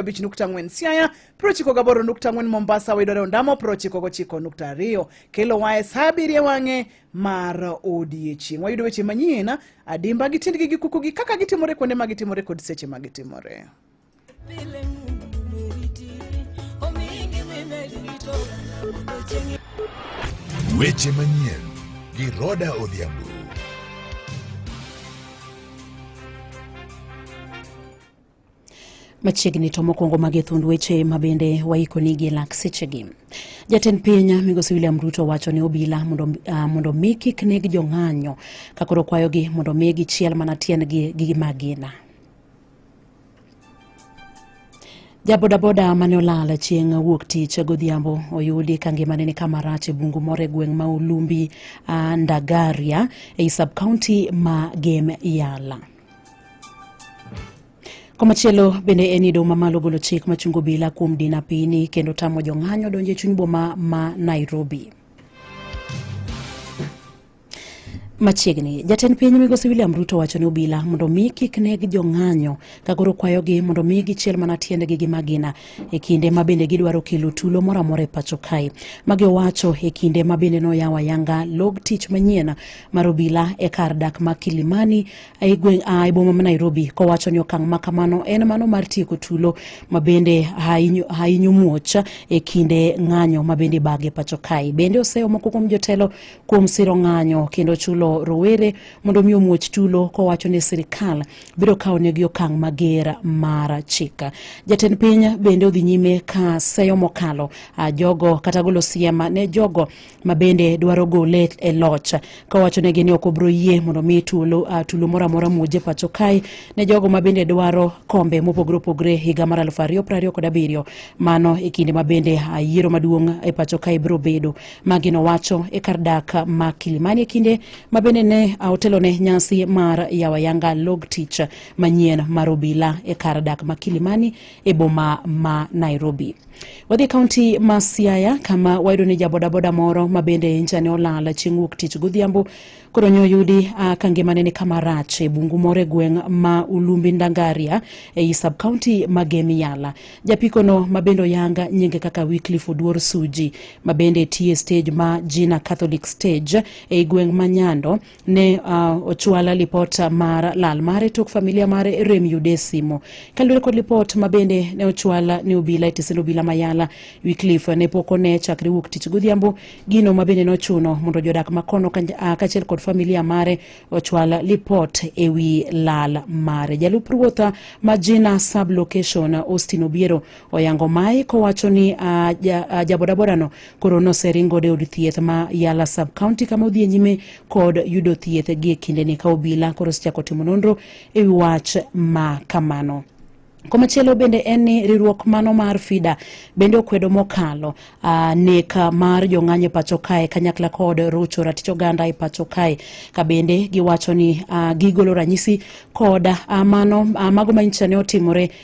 95.4 Siaya, piero ochiko gaboro nukta ang'wen Mombasa wayudore Ondamo, piero ochiko gochiko nukta ariyo kelo waye sa abiriyo wang'e mar odiechieng'. Wayudo weche manyien adimba gi tiendgi gi kukugi kaka gitimore kuonde ma gitimore kod seche ma gitimore. Weche manyien gi Roda Odhiambo. machiegni to mokwongo mage thund weche ma bende waikoni gi lak sechegi jatend piny migosi william ruto wacho ni obila mondo, uh, mondo mi kik neg jong'anyo ka koro kwayogi mondo mi gichiel mana tiendgi gi magina jabodaboda mane olal chieng' wuok tich godhiambo oyudi ka ngimane ni kama rach e bungu moro e gweng' ma ulumbi uh, ndagaria ei sub county ma gem yala Komachielo bende en ni doho mamalo golo chik machungo bila kuom din apini kendo tamo jong'anyo donjo e chuny boma ma Nairobi. Machiegni, jatend piny migosi William Ruto wacho ni obila mondo mi kik neg jong'anyo ka koro kwayogi mondo mi gichiel mana tiendgi gi magina e kinde ma bende gidwaro kelo tulo moro amora e pacho kae. Magi owacho e kinde ma bende noyawo ayanga log tich manyien mar obila e kar dak ma Kilimani e gweng' a e boma ma Nairobi kowacho ni okang' ma kamano en mano mar tieko tulo ma bende hainyo muoch e kinde ng'anyo ma bende bage pacho kae. Bende oseyo moko kuom jotelo kuom siro ng'anyo kendo chulo rowere mondo mi omuoch tulo kowacho ni sirikal biro kawo negi okang' mager mar chik. Jatend piny bende odhi nyime ka seyo mokalo jogo kata golo siema ne jogo ma bende dwaro gole e loch kawachonegi ni ok obro yie mondo mi tulo, uh, tulo moro amora muoje pacho kae ne jogo ma bende dwaro kombe mopogore opogore higa mar aluf ariyo prariyo kod abiriyo mano e kinde ma bende uh, yiero maduong' e pacho kae biro bedo magino wacho e kar dak ma kilimani e kinde ma bende ne uh, otelo ne nyasi mar yawayanga log tich manyien mar obila e kar dak ma kilimani e boma ma nairobi Wadhi e kaunti ma Siaya kama wayudo ni jabodaboda moro ma bende injane olal chieng' wuok tich godhiambo koro nyo oyudi uh, ka ngimane ni kama rach e bungu moro e gweng' ma Ulumbi Ndangaria e i sub kaunti ma Gemi Yala. Japikono ma bende oyanga nyinge kaka Wycliffe Oduor Suji ma bende tiye stage ma Jina Catholic Stage e i gweng' ma Nyando ne uh, ochwala lipot mar lal mare tok familia mare rem yude simo kaluwore kod lipot ma bende ne ochwala ne obila e tisend obila mayala wicliff ne pok one chakre wuok tich godhiambo gino ma bende nochuno mondo jodak makono ah, kaachiel kod familia mare ochwal lipot e wi lal mare jalup ruotha ma jina sub location austin obiero oyango mae kowacho ni uh, ja, uh, jabodaborano Koro noseringo de od thieth ma Yala sub county kama odhi e nyime kod yudo thieth gie kindeni ka obila koro osechako timo nonro e wi wach ma kamano. Komachielo bende en ni riwruok mano mar FIDA bende okwedo mokalo uh, ah, nek mar jong'anyo e pacho kae kanyakla kod rucho ratich oganda e pacho kae ka bende giwacho ni uh, gigolo ranyisi kod uh, mano uh, mago manyicha ne otimore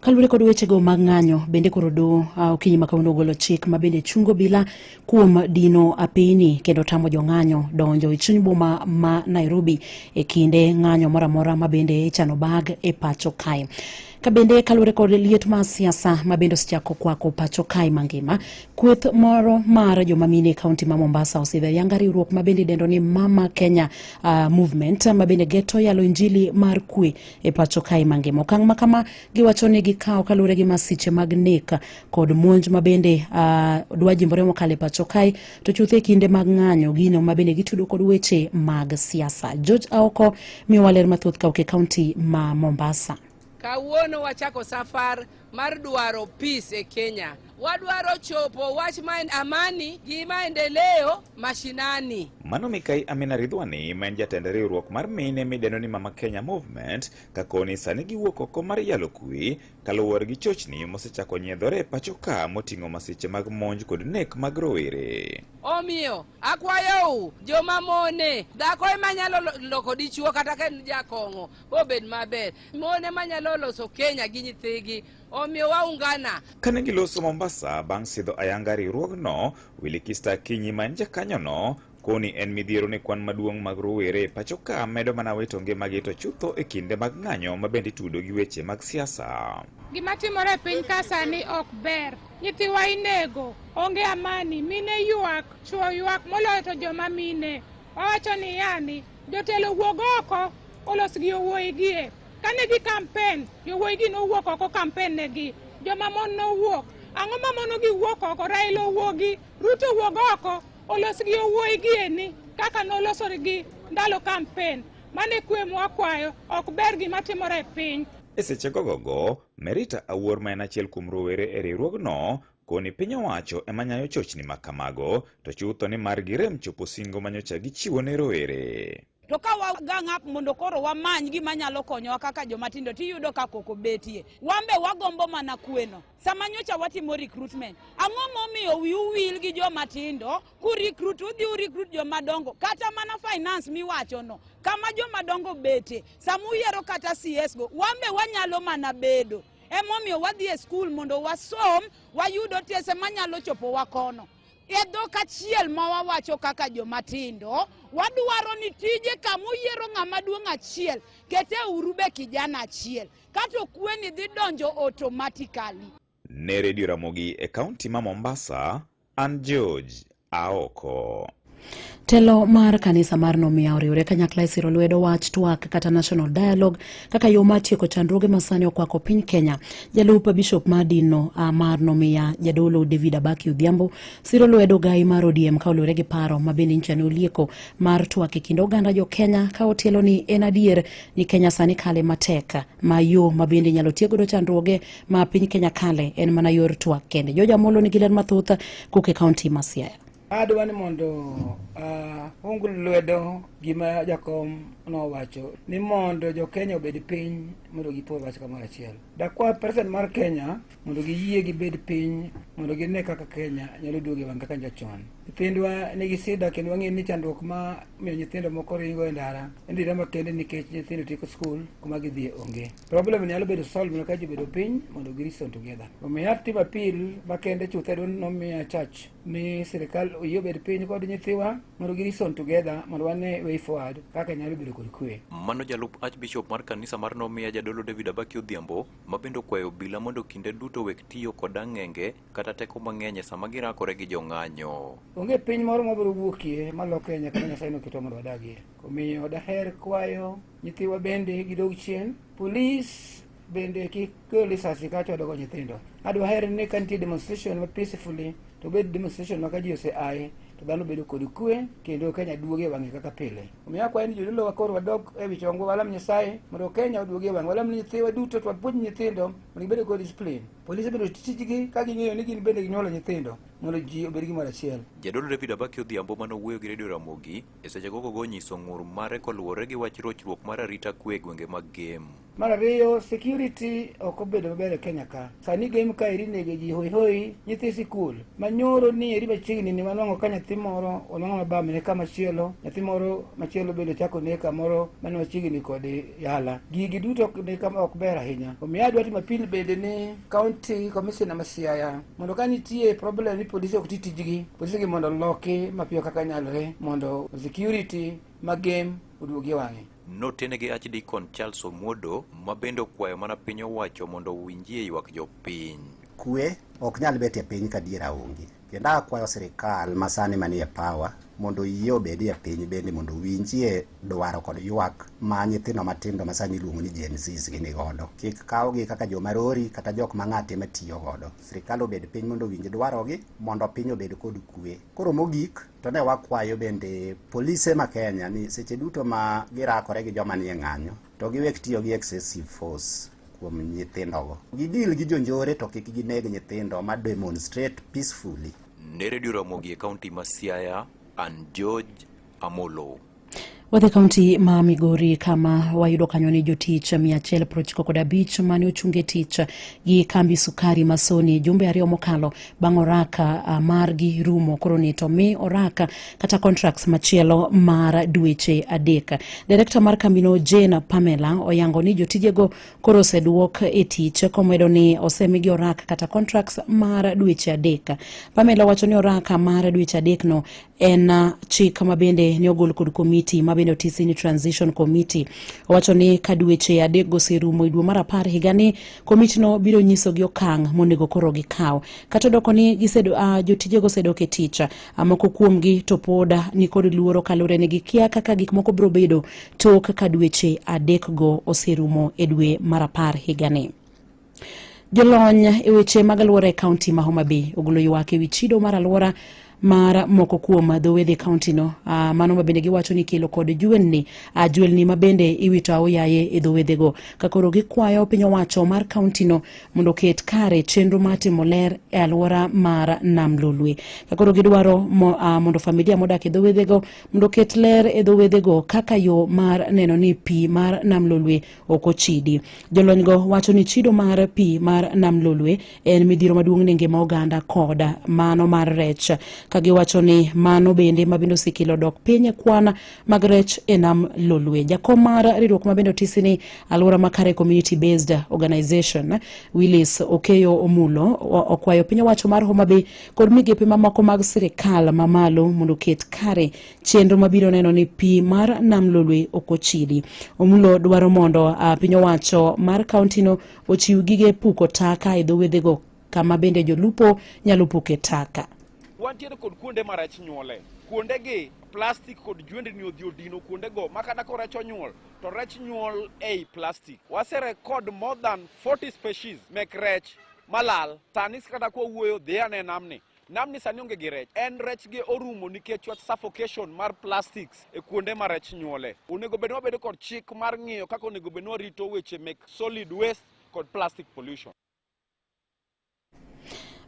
Kaluwore kod wechego mag ng'anyo, bende koro do uh, okinyi ma kawuono ogolo chik ma bende chungo bila kuom dino apini kendo tamo jong'anyo donjo e chuny boma ma Nairobi e kinde ng'anyo moro amora ma bende ichano bag e pacho kae ka bende kaluwore kod liet mar siasa ma bende osechako kwako pacho kae mangima kweth moro mar joma mine e kaunti ma mombasa osidho ayanga riwruok ma bende idendo ni mama kenya uh, movement ma bende geto yalo injili mar kwe e pacho kae mangima. Okang' ma kama giwacho ni gikawo kaluwore gi masiche mag nek kod monj ma bende uh, dwa jimbore mokalo e pacho kae to chuth e kinde mag ng'anyo gino ma bende gitudo kod weche mag siasa. George Aoko miyowa ler mathoth ka ok e kaunti ma Mombasa. Kawuono wachako safar mar dwaro peace e Kenya. Wadwaro chopo wach ma en amani gi maendeleo mashinani. Mano Mikai Amina Ridhwani ma en jatend riwruok mar mine mideno ni Mama Kenya Movement kakoni sani giwuok oko mar yalo kwi kaluwore gi chochni mosechako nyiedhore e pacho ka moting'o masiche mag monj kod nek mag rowere. Omiyo akwayou joma mone dhako ema nyalo loko dichuo kata ka en jakong'o obed maber. Mon ema nyalo loso Kenya gi nyithigi, omiyo waungana. Kane giloso Mombasa bang' sidho ayanga riwruogno, Willy Kista Akinyi ma en jakanyono koni en midhiero ne kwan maduong' mag rowere e pacho ka medo mana wito ngimagi to chutho e kinde mag ng'anyo ma bende itudo gi weche mag siasa. Gima timore e piny ka sani ok ber. Nyithiwa inego, onge amani, mine ywak, chwo ywak moloyo to joma mine. Wawacho ni yani Jotelo wuog oko olos gi yowuoyi gie. Kane gi kampen, yowuoyi gi nowuok oko kampen negi. Joma mon nowuok. Ang'o ma mono gi wuok oko? Raila owuogi, Ruto owuog oko, olos gi yowuoyi gieni kaka noloso gi ndalo kampen. Mane kwe mwakwayo ok ber gima timore e piny. E seche gogogo, Merita Awuor ma en achiel kuom rowere e riwruogno Koni piny owacho ema nyayo chochni ma kamago, to chutho ni mar girem chopo singo ma nyocha gichiwo ne rowere. To ka wagang up mondo koro wamany gima nyalo konyowa kaka joma tindo tiyudo ka koko betie. Wambe wagombo mana kweno. Sama nyocha watimo recruitment, ang'o momiyo wiu wil gi joma tindo ku recruit udhi u recruit joma dongo kata mana finance miwacho no. Kama joma dongo bete, sama uyiero kata CS go, wambe wanyalo mana bedo. Emomiyo wadhi e skul mondo wasom, wayud otese manyalo chopowa kono. E dhok achiel ma wawacho kaka joma tindo, wadwaro ni tije kama uyiero ng'ama duong' achiel, kete uru be kijana achiel. Kato kweni dhi donjo automatically. Ne Redio Ramogi e kaunti ma Mombasa, An George aoko. Telo mar kanisa mar nomiya oriwre kanyakla e siro lwedo wach twak kata national dialogue kaka yo mar tieko chandruoge ma sani okwako piny Kenya. Jalup bishop mar dinno ah, mar nomiya jadolo David Abaki Odhiambo siro lwedo gai mar ODM ka oluwore gi paro ma bende nyicha ne olieko mar twak e kind oganda jo Kenya ka otielo ni en adier ni Kenya sani kale matek ma yo ma bende inyalo tiek godo chandruoge ma piny Kenya kale en mana yor twak kende. George Amolo nigi ler mathoth kuke kaunti ma Siaya. Adwa ni mondo uh, ung lwedo gima jakom nowacho ni mondo jo Kenya obed piny mondo gipo wach kamoro achiel. Dakwa president mar Kenya mondo giyie gibed piny mondo gine kaka Kenya nyalo duogo e wang' kaka jachon. Nyithindwa nigi sida kendo wang'eyo ni chandruok ma miyo nyithindo moko ringo e ndara en dira makende nikech nyithindo tieko skul kuma gidhie onge. Problem nyalo bedo solve na ka ji bedo piny mondo gi reason together. Omiyo have team appeal makende chuthe don nomiya church ni sirikal oyie obed piny kod nyithiwa mondo gi reason together mondo wane way forward kaka nyalo bedo kod kwe. Mano jalup Archbishop mar kanisa mar nomiya jadolo David Abaki Odhiambo ma bende okwayo obila mondo kinde duto wek tiyo kod ang'enge kata teko mang'eny e sama girakore gi jong'anyo. Onge piny moro mabiro wuokie maloke nyaka Nyasaye noketo mondo wadagie. Omiyo daher kwayo nyithiwa bende gidog chien. Polis bende kik go lisasi ka chodo go nyithindo. Adwa her ni ka nitie demonstration ma peacefully to bed demonstration ma ka ji ose aye to dhano bedo kod kwe kendo Kenya duoge wang'e kaka pile. Omiyo akwayo ni jodolo wakoro wadog e wi chongwa walam Nyasaye mondo Kenya oduoge wang'e. Walam ni nyithiwa duto to wapuonj nyithindo mondo gibed kod discipline. Polise bende tijgi ka ging'eyo ni gin bende ginyuolo nyithindo mondo ji obed gimoro achiel. Jadolo David Abaki Odhiambo mane owuoyo gi Radio Ramogi E seche gogo go nyiso ng'ur mare koluwore gi wach rochruok mar arita kwe e gwenge mag Gem. Mar ariyo, security ok obedo maber e Kenya ka. Sani game ka eri nege ji hoi hoi nyithi sikul. Manyoro ni eri machiegni ni wanwang'o ka nyathi moro onwang'o mabamne kama chielo, nyathi moro machielo bende chako ne kamoro mane machiegni kode Yala, gigi duto ni kama ok ber ahinya. Omiyo adwa timo apil bende ni county commissioner ma Siaya mondo ka nitie problem ni polisi ok ti tijgi, polisi gi mondo loki mapiyo kaka nyalore mondo security ma game oduogi e wang'e. Notene gi Archdeacon Charles Omuodo ma bende okwayo mana piny owacho mondo owinjie ywak jopiny. Kwe ok nyal betie piny ka diera onge. Kendo akwayo sirikal masani manie pawa mondo yie obedi e piny bende mondo winjie dwaro kod ywak ma nyithindo matindo ma sani iluongo ni Gen Zs gini godo. Kik kawgi kaka joma rori kata jok ma ng'ate ma tiyo godo. Sirikal obed piny mondo owinj dwarogi mondo piny obed kod kwe. Koro mogik to ne wakwayo bende polise ma Kenya ni seche duto ma girakore gi joma nie ng'anyo To giwek tiyo gi excessive force kuom nyithindogo. Gidil gi jonjore to kik gineg nyithindo ma demonstrate peacefully. Ne Radio Ramogi e kaunti ma Siaya, an George Amolo. Wadhi kaunti ma Migori kama wayudo kanyo ni jotich 195 mane ochunge tich gi kambi sukari Masoni jumbe ariyo mokalo bang' oraka uh, margi rumo koro ni to mi oraka kata contracts machielo mar dweche adek. Direkta mar kambino Jane Pamela oyango ni jotijego koro oseduok e tich komedo ni osemigi oraka kata contracts mar dweche adek. Pamela wacho ni oraka mar dweche adekno en uh, chik ma bende ne ogol kod komiti ma bende otisi ni transition committee owacho ni ka dweche adek goserumo e dwe mar apar higani komitino biro nyiso gi okang' monego koro gikaw kata odoko ni gisedo, uh, jotijego osedok e tich uh, moko kuomgi to pod uh, nikod luoro kaluwore ni gikia kaka gik moko biro bedo tok ka dweche adekgo oserumo e dwe mar apar higani Jolony e weche mag alwora e kaunti ma Homa Bay ogolo ywak e wi chido mar alwora mar moko kuom dhowedhi e kauntino ah, mano ma bende giwacho ni kelo kod juelni ah, juelni ma bende iwito aoyaye e dhowedhego ka koro gikwayo piny owacho mar kauntino mondo oket kare chenro mar timo ler e alwora mar nam lolwe ka koro gidwaro mo, ah, mondo familia modak e dhowedhego mondo oket ler e dhowedhego kaka yo mar neno ni pi mar nam lolwe ok ochidi. Jolonygo wacho ni chido mar pi mar Nam Lolwe en midhiro maduong' ne ngima oganda koda mano mar rech, ka giwacho ni mano bende mabende osekelo dok piny kwan mag rech e Nam Lolwe. Jakom mar riwruok mabende otisi ni Alwora Makare Community Based Organization, Willis Okeyo Omulo, okwayo piny owacho mar Homa Bay kod migepe mamoko mag sirkal mamalo mondo oket kare chenro mabiro neno ni pi mar nam lolwe ok ochidi. Omulo dwaro mondo uh, piny owacho mar kauntino ochiw gige puko taka e dho wedhego kama bende jolupo nyalo puke taka. Wantiere kod kuonde ma rech nyuole. Kuondegi plastik kod jwendni odhi odino kuondego ma kata ko rech onyuol to rech nyuol ei plastik. Waserekod more than 40 species mek rech malal sani kata kwawuoyo dhi ane namni Namni sani onge gi rech, en rech gi orumo nikech wach suffocation mar plastics e kuonde ma rech nyuole. Onego bed wabedo kod chik mar ng'iyo kaka onego bed warito weche mek solid waste kod plastic pollution.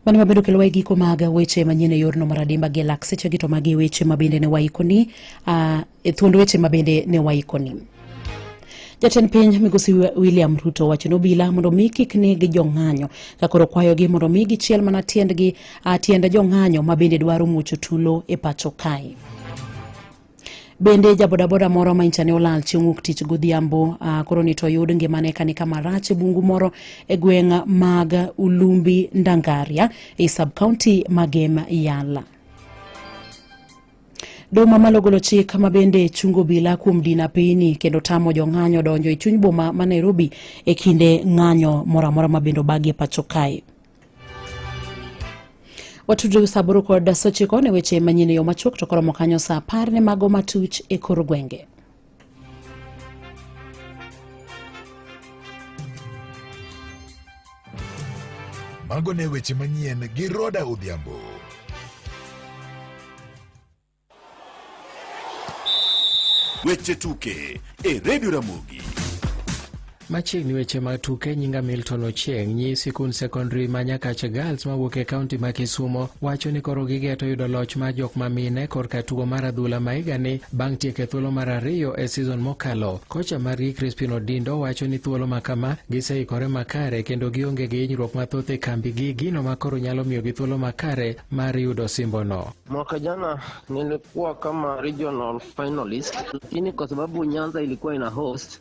Mani ma bedo kelowa e giko mag weche manyien e yorno mar adimba gi lak sechegi to magi weche ma bende ne waikoni. Uh, E thuond weche ma bende ne waikoni. Jatend piny migosi William Ruto wacho ni obila mondo mi kik neg jong'anyo ka koro kwayogi mondo mi gichiel mana tiendgi tiend jong'anyo ma bende dwaro muocho tulo e pacho kae. Bende jabodaboda moro ma inchane olal chieng' wuok tich godhiambo uh, koro ni to oyud ngimane kani kama rach e bungu moro e gweng' mag Ulumbi Ndangaria e sub county ma Gem Yala. Doho mamalo golo chik ma bende chungo obila kuom dino apeyini kendo tamo jong'anyo donjo e chuny boma ma Nairobi e kinde ng'anyo moro amora ma bende obagi e pacho kae. Watudre sa aboro kod sochiko ne weche manyien e yo machuok to koromo kanyo sa apar ne mago matuch e kor gwenge. Mago ne weche manyien gi Roda Odhiambo. Weche tuke e Radio Ramogi. Machiegni weche mag tuke nyinga Milton Ochieng nyi sikund sekondari ma Nyakach Girls mawuok e kaunti ma Kisumo wacho ni koro gigeto yudo loch mar jok ma mine korka tugo mar adhula ma higani bang' tieko e thuolo mar ariyo e sizon mokalo. Kocha margi Crispin Odindo wacho ni thuolo ma kama giseikore makare kendo gionge gi hinyruok mathoth e kambi gi gino ma koro nyalo miyo gi thuolo makare mar yudo simbono. Mwaka jana nilikuwa kama regional finalist, lakini kwa sababu Nyanza ilikuwa ina host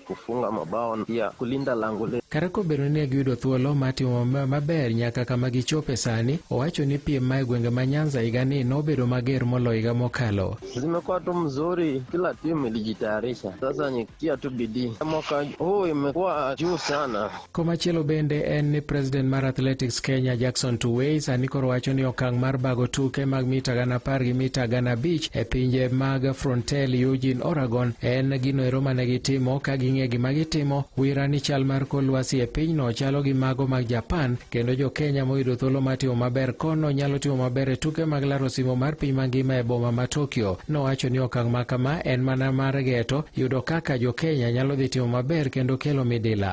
kufunga mabao na pia kulinda lango letu. Kata kobedo ni ne giyudo thuolo mar timo maber nyaka kama gichope sani, owacho ni piem ma e gwenge ma Nyanza higani nobedo mager moloyo higa mokalo. Zimekuwa tu mzuri, kila timu ilijitayarisha, sasa ni kutia tu bidii. Mwaka huu imekuwa juu sana. Komachielo bende en ni president mar Athletics Kenya Jackson Tuwei sani koro wacho ni okang' mar bago tuke mag mita gana apar gi mita gana abich e pinje mag Frontel Eugene Oregon en gino ero mane gitimo ka ging'e gima gitimo wira ni chal mar kor lwasi e pinyno chalo gi mago mag Japan kendo jo Kenya moyudo thuolo mar timo maber kono nyalo timo maber e tuke mag laro simo mar piny mangima e boma ma Tokyo. Nowacho ni okang' ma kama en mana mar geto yudo kaka jo Kenya nyalo dhi timo maber kendo kelo midila.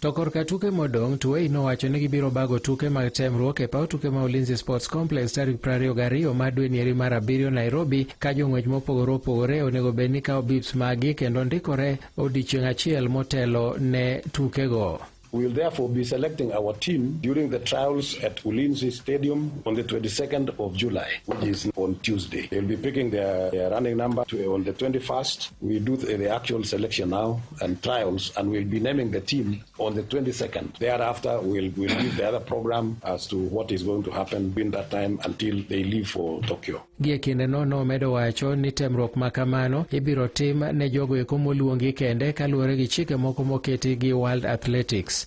To korka tuke modong', Tuwei nowacho ni gibiro bago tuke mag temruok e paw tuke ma Ulinzi Sports Complex tarik 22 mar dwe nieri mar abiriyo Nairobi, ka jong'wech mopogore opogore onego bed ni kawo bips maggi kendo ndikore odiechieng' achiel motelo ne tukego. We will therefore be selecting our team during the trials at Ulinzi Stadium on the 22nd of July, which is on Tuesday. They'll be picking their, their running number to, on the 21st. We do the, the actual selection now. and trials and we'll be naming the team on the 22nd. Thereafter, we'll, we'll give the other program as to what is going to happen between that time until they leave for Tokyo. Gie kinde no nomedo wacho ni temruok ma kamano ibiro tim ne jogo eko moluongi kende kaluwore gi chike moko moketi gi World Athletics.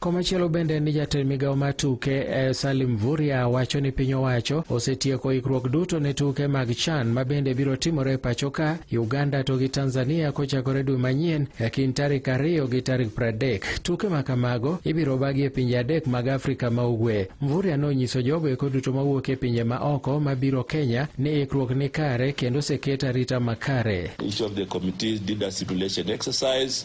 Komachielo bende ni jatend migawo mar tuke eh, Salim Vuria wacho ni piny owacho osetieko ikruok duto ne tuke mag CHAN ma bende biro timore e pacho ka Uganda to gi Tanzania kochakore dwe manyien e kind tarik ariyo gi tarik pradek. Tuke ma kamago ibiro bagi e pinje adek mag Afrika ma Ugwe. Mvuria nonyiso jogo eko duto mawuok e pinje ma oko ma biro Kenya ni ikruok ni kare kendo oseket arita makare. Each of the committees did a simulation exercise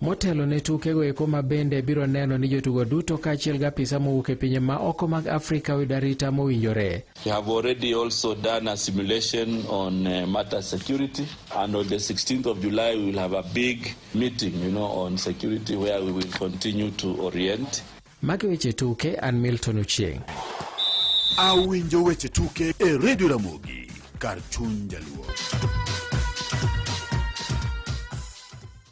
Motelo ne tukego eko ma bende biro neno ni jotugo duto kaachiel gi apisa mowuok e pinje ma oko mag Afrika oyud arita mowinjore. We have already also done a simulation on uh, matter security and on the 16th of July we will have a big meeting you know on security where we will continue to orient. Magi weche tuke an Milton Ochieng. Awinjo weche tuke e Radio Ramogi kar chuny jaluo.